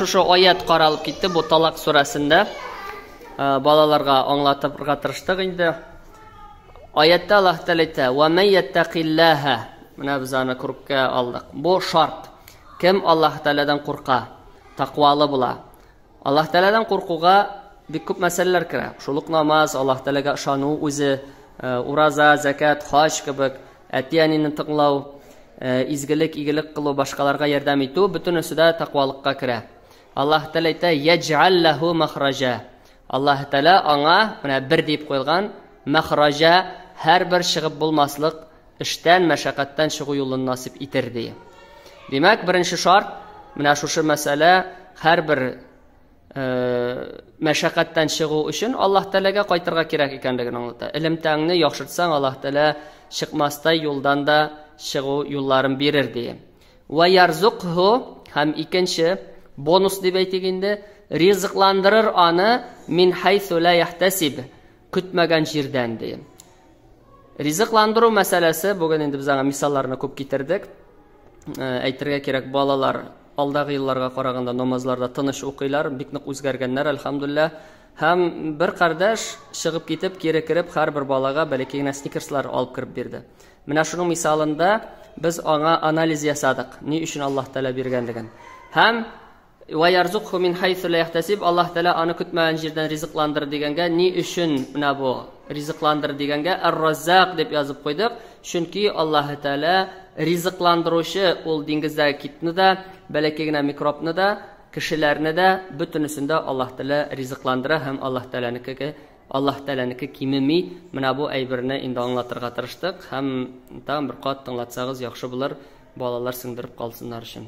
Шушы аят каралып китте бу Талак сүрәсендә. Э, балаларга аңлатырга тырыштык инде. Аятта Аллаһ Тәгалә әйтә: "Ва ман яттакиллаһа" Менә без аны күркә алдык. Бу шарт. Кем Аллаһ Тәгаләдән курка, таквалы була. Аллаһ Тәгаләдән куркуга бик күп мәсьәләләр керә. Шул ук намаз, Аллаһ Тәгаләгә ышану үзе, э, ураза, закат, хаҗ кебек, әти-әнине тыңлау, э, изгелек, игелек кылу, башкаларга ярдәм итү, бөтенесе дә тәкъвалыкка керә. Аллаһ Тәгалә әйтә: "Яджал лаху махраҗа". Аллаһ Тәгалә аңа, менә бер дип куелган, махраҗа, һәрбер чыгып булмаслык эштән, мәшәкатьтән чыгу юлын насип итер, ди. Димәк, беренче шарт, менә шушы мәсьәлә һәрбер мәшәкатьтән чыгу өчен Аллаһ Тәләгә кайтырга кирәк икәнлеген аңлата. Элемтәңне яхшыртсаң, Аллаһ Тәлә чыкмастай юлдан да чыгу юлларын бирер, ди. Ва ярзукху һәм икенче бонус дип әйтик инде, ризыкландырыр аны мин хайсу ла яхтасиб, көтмәгән җирдән, ди. Ризыкландыру мәсьәләсе, бүген инде без аңа мисалларны күп китердек. Әйтергә кирәк, балалар алдагы елларга караганда намазларда тыныч укыйлар, бик нык үзгәргәннәр, әлхәмдуллә. Һәм бер кардәш чыгып китеп, кире кереп, һәрбер балага бәләкәй генә сникерслар алып кереп бирде. Менә шуның мисалында без аңа анализ ясадык, ни өчен Аллаһ Тәгалә биргәнлеген. Һәм Вә ярзукһу мин хайсу лә яхтәсиб, Аллаһ Тәгалә аны көтмәгән җирдән ризыкландыр дигәнгә, ни өчен менә бу ризыкландыр дигәнгә Әр-Раззак дип язып куйдык, чөнки Аллаһ Тәгалә ризыкландыручы, ул диңгездәге китны да, бәләкәй генә микробны да, кешеләрне дә, бөтенесен дә Аллаһ Тәгалә ризыкландыра һәм Аллаһ Тәгаләнеке Аллаһ Тәгаләнеке кимеми, менә бу әйберне инде аңлатырга тырыштык һәм тагын бер кат тыңлатсагыз яхшы булыр, балалар сеңдереп калсыннар өчен.